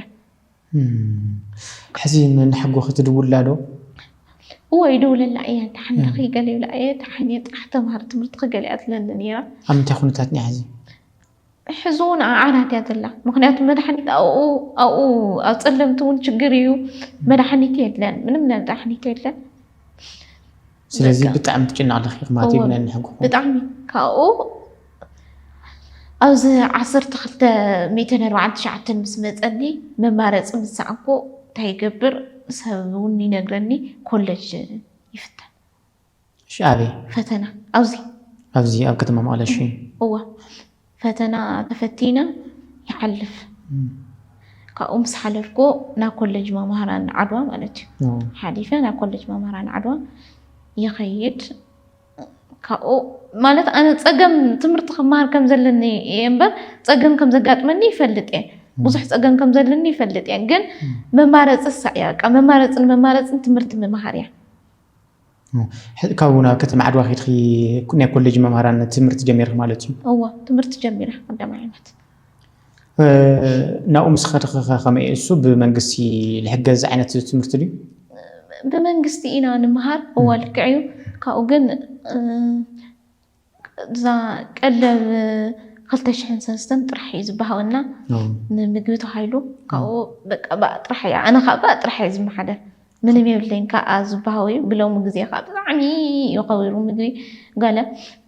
ሕዚ ንሓጎ ክትድውላ ዶ? እወ ይደውለላ እየ እንተ ሓንዳኺ ገለ ይብላ እየ እንተ ሓንየ ጥራሕ ተምሃር ትምህርትኺ ገለ እያ ትብለኒ ነይራ። ኣብ ምንታይ ኩነታት እኒኣ ሕዚ? ሕዚ እውን ኣብ ዓራት እያ ዘላ ምኽንያቱ መድሓኒት ኣብኡ ኣብኡ ኣብ ፀለምቲ እውን ችግር እዩ መድሓኒት የለን ምንም መድሓኒት የለን። ስለዚ ብጣዕሚ ትጭነቅ ኣለኺ ማለት እዩ ነንሕንኩ ብጣዕሚ ካብኡ ኣብዚ ዓሰርተ ክልተ ሚእትን ኣርባዓን ትሽዓተን ምስ መፀኒ መማረፂ ምስ ሰኣንኩ እንታይ ይገብር ሰብ እውን ይነግረኒ ኮለጅ ይፍተን ሽኣበይ ፈተና ኣብዚ ኣብዚ ኣብ ከተማ መቐለ እሺ እዋ ፈተና ተፈቲነ ይሓልፍ ካብኡ ምስ ሓለፍኩ ናብ ኮለጅ መማህራን ዓድዋ ማለት እዩ ሓሊፈ ናብ ኮለጅ መማህራን ዓድዋ ይኸይድ ካብኡ ማለት ኣነ ፀገም ትምህርቲ ክመሃር ከም ዘለኒ እየ እምበር ፀገም ከም ዘጋጥመኒ ይፈልጥ እየ ብዙሕ ፀገም ከም ዘለኒ ይፈልጥ እየ ግን መማረፂ ሳዕ እያ መማረፂን መማረፂን ትምህርቲ ምምሃር እያ ሕዚ ካብኡ ናብ ከተማ ዓድዋ ከይድኺ ናይ ኮሌጅ መምሃራን ትምህርቲ ጀሚርኺ ማለት እዩ? እወ ትምህርቲ ጀሚረ ቀዳማይ ዓመት። ናብኡ ምስ ከድኺ ከ ከመይ እዩ እሱ ብመንግስቲ ዝሕገዝ ዓይነት ትምህርቲ ድዩ? ብመንግስቲ ኢና ንመሃር እወ ልክዕ እዩ ካብኡ ግን እዛ ቀለብ ክልተ ሽሕን ሰለስተን ጥራሕ እዩ ዝበሃወና ንምግቢ ተባሂሉ ካብኡ በቃ ባእ ጥራሕ እያ ኣነ ከዓ ባእ ጥራሕ እየ ዝመሓደር ምንም የብለይን ከዓ ዝበሃወ እዩ ብሎሚ ግዜ ከዓ ብጣዕሚ እዩ ከቢሩ ምግቢ ገለ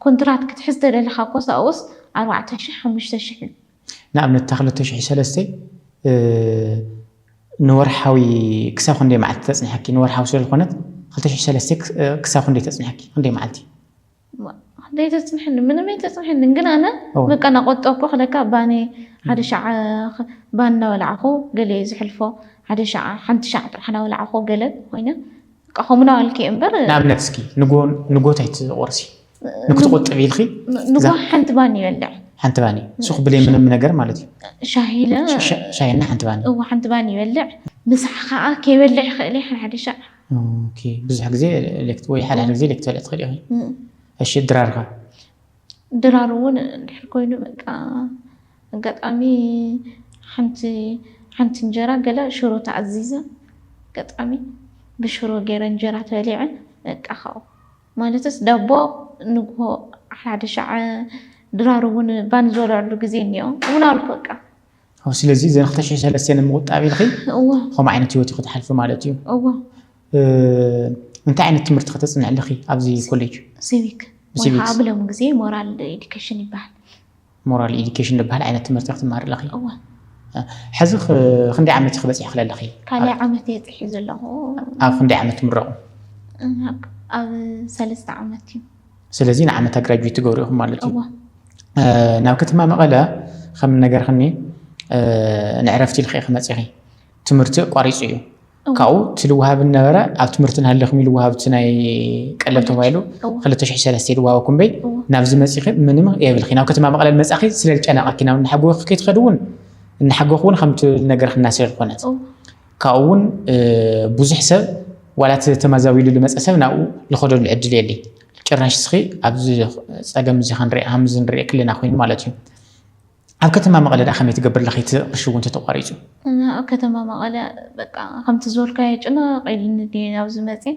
ኮንትራት ክትሕዝ ተደሊኻ ኮስ ኣብኡስ ኣርባዕተ ሽሕ ሓሙሽተ ሽሕ እዩ ንኣብነት እታ ክልተ ሽሕ ሰለስተ ንወርሓዊ ክሳብ ክንደይ መዓልቲ ተፅንሐኪ ንወርሓዊ ስለዝኾነት ክልተ ሽሕ ሰለስተ ክሳብ ክንደይ ተፅንሐኪ ክንደይ መዓልቲ ዘይተፅንሐኒ ምንም ኣይተፅንሐንን ግን ኣነ በቃ ናቆጠብኩ ክለካ ባኒ ሓደ ሻዕ ባኒ እናበላዕኹ ገለ እዩ ዝሕልፎ ሓደ ሻዕ ሓንቲ ሻዕ ጥራሕ እናበላዕኹ ገለ ኮይነ በቃ ከምኡ ናበልኪ እዩ እምበር ንኣብነት እስኪ ንጎት ኣይትቆርሲ ንክትቆጥብ ኢልኪ ንጎ ሓንቲ ባኒ ይበልዕ ሓንቲ ባኒ ሱክ ብለይ ምንም ነገር ማለት እዩ ሻሂለ ሻሂና ሓንቲ ባኒ እዎ ሓንቲ ባኒ ይበልዕ ምሳሕ ከዓ ከይበልዕ ይኽእል እዩ ሓደ ሻዕ ኦኬ ብዙሕ ግዜ ሌክት ወይ ሓድሓደ ግዜ ሌክት ትበልዕ ትኽእል ኢኺ እም፣ እሺ ድራር ከ ድራር እውን እንድሕር ኮይኑ በቃ ኣጋጣሚ ሓንቲ ሓንቲ እንጀራ ገለ ሽሮ ተኣዚዘ ኣጋጣሚ ብሽሮ ገይረ እንጀራ ተበሊዐ በቃ ካብኡ ማለትስ ዳቦ ንግሆ ሓድሓደ ሻዕ ድራር እውን ባኒ ዝበልዐሉ ግዜ እኒኦ እውን ኣልኩ በቃ ኣው ስለዚ እዘን ክልተ ሽሕን ሰለስተን ንምቑጣብ ኢልኺ እወ ከምኡ ዓይነት ህይወት ክትሓልፊ ማለት እዩ እወ እንታይ ዓይነት ትምህርቲ ከተፅንዕ ኣለኺ ኣብዚ ኮሌጅ ሲቪክ ወይ ከዓ ብሎም ግዜ ሞራል ኤዱኬሽን ይበሃል ሞራል ኤዱኬሽን ዝበሃል ዓይነት ትምህርቲ ክትመሃሪ ኣለኺ እወ ሕዚ ክንደይ ዓመት ኢኺ በፂሕኺ ኣለኺ ካልኣይ ዓመት እየ ፅሒ ዘለኹ ኣብ ክንደይ ዓመት ትምረቑ ኣብ ሰለስተ ዓመት እዩ ስለዚ ንዓመታ ግራጁዌት ትገብሩ ኢኹም ማለት እዩ ናብ ከተማ መቐለ ከም ነገርክኒ ንዕረፍቲ ኢልክ ክመፅኺ ትምህርቲ ቋሪፁ እዩ ካብኡ እቲ ልውሃብ ነበረ ኣብ ትምህርቲ ናሃለኹም ኢሉ ውሃብቲ ናይ ቀለብ ተባሂሉ 203 ልዋሃበኩም በይ ናብዚ መፂኺ ምንም የብልኪ ናብ ከተማ መቐለ መፃኺ ስለዝጨነቐኪ ናብ እናሓጎኽኪ ትኸዲ እውን እናሓጎኽ እውን ከምቲ ነገርክ እናሰ ዝኾነት ካብኡ እውን ብዙሕ ሰብ ዋላ እቲ ተመዛቢሉ ልመፀ ሰብ ናብኡ ልኸደሉ ዕድል የለይ። ጭራሽ እስኺ ኣብዚ ፀገም እዚ ክንሪኣ ከምዚ ንሪኦ ክለና ኮይኑ ማለት እዩ። ኣብ ከተማ መቐለ ደኣ ከመይ ትገብር ኣለኺ እቲ ቅርሺ እውን ተተቋሪፁ? ኣብ ከተማ መቐለ በቃ ከምቲ ዝበልካዮ ጭንቕ ኢሉኒ ድየ ኣብዚ መፅየ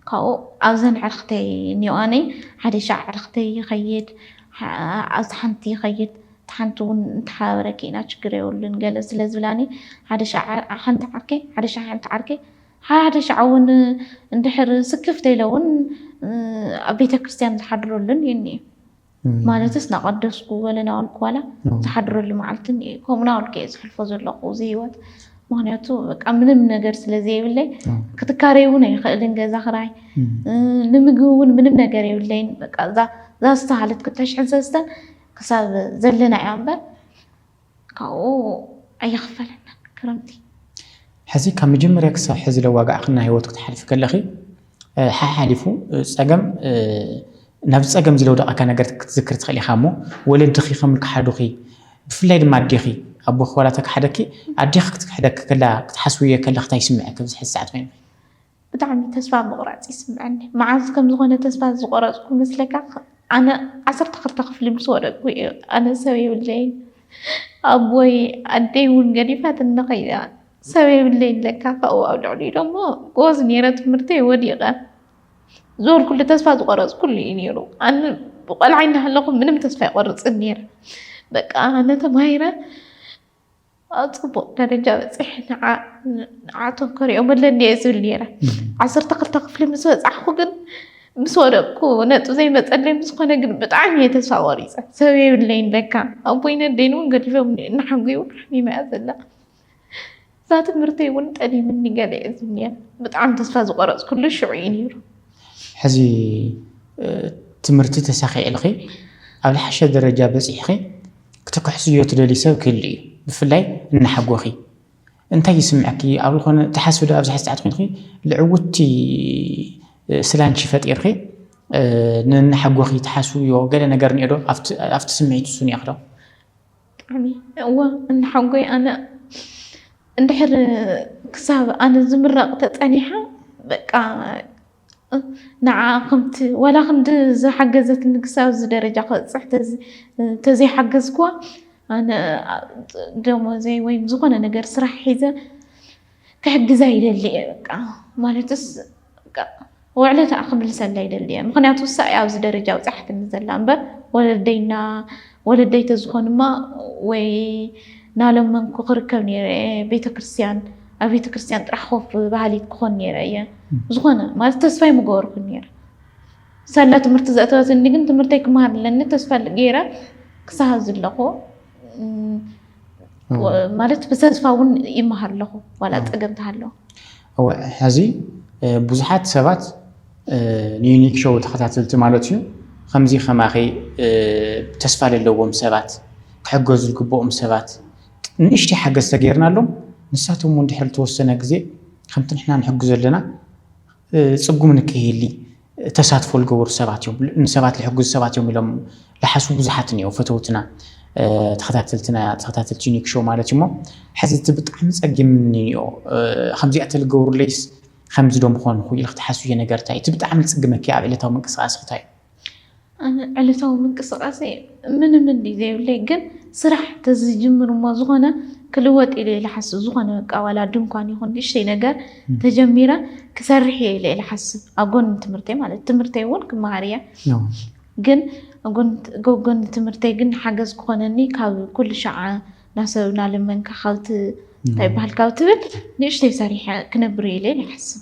ካብኡ ኣብዘን ኣዕርኽተይ እኒኦኣኒ ሓደ ሻዕ ኣዕርኽተይ ይኸይድ ኣብቲ ሓንቲ ይኸይድ እታ ሓንቲ ውን ንተሓባበረኪ ኢና ችግር የብሉን ገለ ስለ ዝብላኒ ሓደ ሻዕ ሓንቲ ዓርከይ ሓደ ሻዕ ሓንቲ ዓርከይ ሓደ ሻዕ ውን እንድሕር ስክፍ ተይለ ውን ኣብ ቤተ ክርስትያን ዝሓድረሉ እኒኤ እኒኤ ማለትስ ናቐደስኩ ገለ ናበልኩ ዋላ ዝሓድረሉ መዓልቲ እኒኤ ከምኡ ናበልኩ እየ ዝሕልፎ ዘለኹ እዚ ህይወት ምክንያቱ በቃ ምንም ነገር ስለ ዘይብለይ ክትካረይ እውን ኣይኽእልን ገዛ ክራይ ንምግቢ እውን ምንም ነገር የብለይን በቃ እዛ እዛ ዝተሃለት ክልተ ሽሕን ሰለስተን ክሳብ ዘለናዮ እምበር ካብኡ ኣይኽፈለናን ክረምቲ። ሕዚ ካብ መጀመርያ ክሳብ ሕዚ ለዋጋዕክና ሂወት ክትሓልፊ ከለኺ ሓሓሊፉ ጸገም ናብ ጸገም ዝለውደቀካ ነገር ክትዝክሪ ትኽእሊ ኢኻ እሞ ወለድኺ ከም ክሓዱኺ ብፍላይ ድማ ኣዴኺ ኣቦኺ ዋላ ተክሓደኪ ኣዴኺ ክትክሕደኪ ከላ ክትሓስብዮ ከለኺ ታይ ይስመዐኪ ኣብዚ ሕዚ ሰዓት ኮይንኺ? ብጣዕሚ ተስፋ ምቕራጽ ይስምዐኒ መዓዝ ከም ዝኾነ ተስፋ ዝቖረጽኩ መስለካ ኣነ ዓሰርተ ክልተ ክፍሊ ምስ ወደቅኩ እዩ ኣነ ሰብ የብለይን ኣቦይ ኣደይ እውን ገዲፋትኒ ከይዳ ሰብ የብለይን ለካ ካብኡ ኣብ ልዕሊኡ ደሞ ጎበዝ ነይረ ትምህርተይ ወዲቐ ዝበልኩሉ ተስፋ ዝቖረጽኩሉ እዩ ነይሩ ኣነ ብቆልዓ እናሃለኹ ምንም ተስፋ ይቆርጽን ነይረ በቃ ኣነ ተማሂረ ኣብ ፅቡቕ ደረጃ በፂሐ ንዓቶም ከሪኦም ኣለኒ እየ ዝብል ነይረ ዓሰርተ ክልተ ክፍሊ ምስ በፃሕኩ ግን ምስ ወደቅኩ ነጥብ ዘይመፀለይ ምስኮነ ግን ብጣዕሚ እየ ተስፋ ቆሪፀ ሰብ የብለይን ለካ ኣቦይ ነደይን እውን ገዲፎም እናሓጉይ እውን ሓሚመ እያ ዘላ እዛ ትምህርቲ እውን ጠሊምኒ ገለ እየ ዝብል ነይረ ብጣዕሚ ተስፋ ዝቆረፅኩሉ ሽዑ እዩ ነይሩ ሕዚ ትምህርቲ ተሳኺዕልኺ ኣብ ዝሓሸ ደረጃ በፂሕኺ ክትክሕስዮ ትደልዪ ሰብ ክህሉ እዩ ብፍላይ እናሓጎኺ እንታይ ይስምዕኪ ኣብ ዝኾነ ትሓስቢ ዶ ኣብዚሐ ሰዓት ኮይንኺ ልዕውቲ ስላንቺ ፈጢርኺ ንእናሓጎኺ ትሓስብዮ ገለ ነገር እኒኦ ዶ ኣብቲ ስምዒት ንሱ እኒኦኺ ዶ? ብጣዕሚ እወ እናሓጎይ ኣነ እንድሕር ክሳብ ኣነ ዝምረቅ ተፀኒሓ በቃ ንዓኣ ከምቲ ዋላ ክንዲ ዝሓገዘትኒ ክሳብ እዚ ደረጃ ክበፅሕ ተዘይሓገዝኩዋ ኣነ ደሞዘይ ወይም ዝኾነ ነገር ስራሕ ሒዘ ክሕግዛ ይደሊ እየ በቃ ማለትስ ውዕለታኣ ክምልሰላ ይደሊ እየ ምክንያቱ እሳ እያ ኣብዚ ደረጃ ኣብፅሓትኒ ዘላ እምበር ወለደይና ወለደይ ተዝኾኑማ ወይ ናለመንኩ ክርከብ ነይረ እየ ቤተ ክርስትያን ኣብ ቤተ ክርስትያን ጥራሕ ኮፍ በሃሊት ክኾን ነይረ እየ ዝኾነ ማለት ተስፋይ ምገበርኩን ነይረ ሳላ ትምህርቲ ዘእተወትኒ ግን ትምህርተይ ክመሃር ኣለኒ ተስፋ ገይረ ክሳሃ ዝለኹ ማለት ብተስፋ እውን ይመሃር ኣለኹ ዋላ ፀገም ተሃለዎ እወ ሐዚ ብዙሓት ሰባት ንዩኒክ ሾው ተኸታተልቲ ማለት እዩ ኸምዚ ኸማኺ ተስፋ ለለዎም ሰባት ክሕገዙ ልግበኦም ሰባት ንእሽተይ ሓገዝ ተገይርናሎም ንሳቶም እውን ድሕሪ ልተወሰነ ግዜ ኸምቲ ንሕና ንሕግዞ ለና ፅጉም ንከይህሊ ተሳትፎ ልገበሩ ሰባት እዮም ንሰባት ልሕግዙ ሰባት እዮም ኢሎም ልሓሱ ብዙሓት እኒኦ ፈተውትና ተኸታተልትና ተኸታተልቲ ዩኒክ ሾው ማለት እዩሞ ሕዚ እቲ ብጣዕሚ ጸጊምኒ እኒኦ ከምዚኣ ተልገብሩለይስ ከምዚ ዶ ምኾንኹ ኢልክ ትሓስብዮ ነገር እንታይ እቲ ብጣዕሚ ልጽግመኪ ኣብ ዕለታዊ ምንቅስቃስክታይ ኣነ ዕለታዊ ምንቅስቃሰይ ምንም እንድዩ ዘይብለይ ግን ስራሕ ተዝጅምር እሞ ዝኾነ ክልወጥ ኢለ ልሓስብ ዝኾነ በቃ ዋላ ድንኳን ይኹን ንእሽተይ ነገር ተጀሚረ ክሰርሕ እየ ኢለ ልሓስብ ኣብ ጎኒ ትምህርተይ ማለት ትምህርተይ እውን ክመሃር እየ ግን ጎጎኒ ትምህርተይ ግን ሓገዝ ክኾነኒ ካብ ኩሉ ሸዓ ናሰብ ናለመንካ ካብቲ እንታይ ይበሃል ካብ ትብል ንእሽተይ ሰሪሐ ክነብር እየ ኢለ ይሓስብ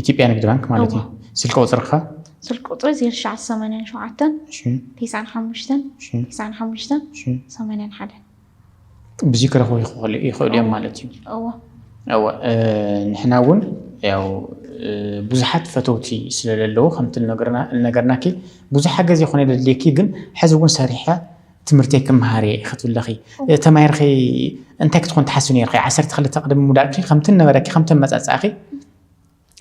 ኢትዮጵያ ንግድ ባንክ ማለት እዩ ስልኪ ቁፅርካ ስልኪ ቁፅሪ 0987959581 ብዙይ ክረኽቡ ይኽእሉ እዮም ማለት እዩ እወ ንሕና እውን ያው ብዙሓት ፈተውቲ ስለለለዉ ከምቲ ነገርናኪ ብዙ ሓገዝ ይኾነ ደድልየኪ ግን ሕዚ እውን ሰሪሐ ትምህርተይ ክመሃር እየ ኢኺ ትብለኺ ተማሂርኺ እንታይ ክትኾን ትሓስቢ ነርኺ ዓሰርተ ክልተ ቅድሚ ምውዳእኪ ከምቲ ነበረኪ ከምቲ ኣመፃፅኣኺ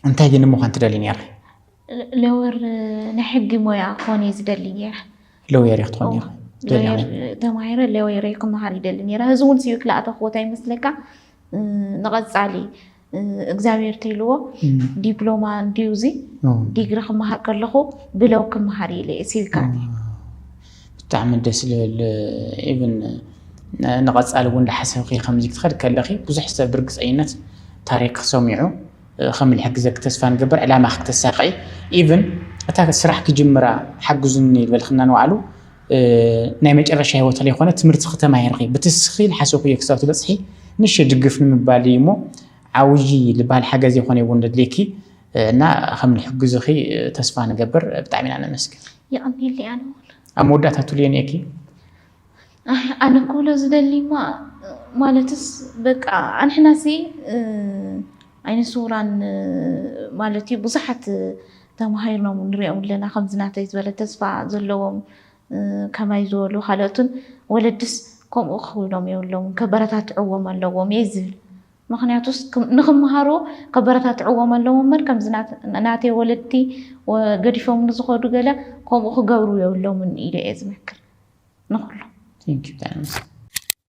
እንታይ ግን ምዃን ትደልዩ ነርኺ ለወር ናይ ሕጊ ሞያ ክኾን እየ ዝደሊ ነይረ ለውየር እየ ክትኾን ነርኺ ተማሂረ ለወየር ክመሃር ይደሊ ነይረ እዚ እውን ስዩ ክልኣተክቦታ ይመስለካ ንቐፃሊ እግዚኣብሔር ተይልዎ ዲፕሎማ እንድዩ እዚ ዲግሪ ክመሃር ከለኹ ብለው ክመሃር ኢለ እየ ሲቪካል ብጣዕሚ ደስ ዝብል ኢቭን ንቐፃሊ እውን ዳሓሰብኺ ከምዚ ክትኸድ ከለኺ ብዙሕ ሰብ ብርግፀኝነት ታሪክ ሰሚዑ ከም ዝሕግዘኪ ተስፋ ንገብር ዕላማ ክተሳክዒ ኢቭን እታ ስራሕ ክጅምራ ሓግዙኒ ዝበልክና ንባዕሉ ናይ መጨረሻ ህይወት ለይኮነ ትምህርቲ ክተማሂርኺ ብትስኺ ልሓሰኩዮ ክሳብ ትበጽሒ ንእሽተይ ድግፍ ንምባል እዩ እሞ ዓውዪ ልበሃል ሓገዝ የኾነ እውን ለድልየኪ እና ከም ንሕግዝኺ ተስፋ ንገብር ብጣዕሚ ኢና ነመስግን የቐኔለይ ኣነ እውን ኣብ መወዳእታ ትብልዮ እኒኤኪ ኣነ ክብሎ ዝደሊማ ማለትስ በቃ ኣንሕናሲ ዓይነ ስውራን ማለት እዩ ብዙሓት ተማሂርናም ንሪኦም ኣለና ከምዚ ናተይ ዝበለ ተስፋ ዘለዎም ከማይ ዝበሉ ካልኦትን ወለድስ ከምኡ ክኽውሎም የብሎምን ከበረታትዕዎም ኣለዎም እየ ዝብል ምኽንያቱስ ንኽመሃሩ ከበረታትዕዎም ኣለዎም እምበር ከምዚ ናተይ ወለድቲ ገዲፎምኒ ዝኸዱ ገለ ከምኡ ክገብሩ የብሎምን ኢለ እየ ዝመክር ንኹሎም።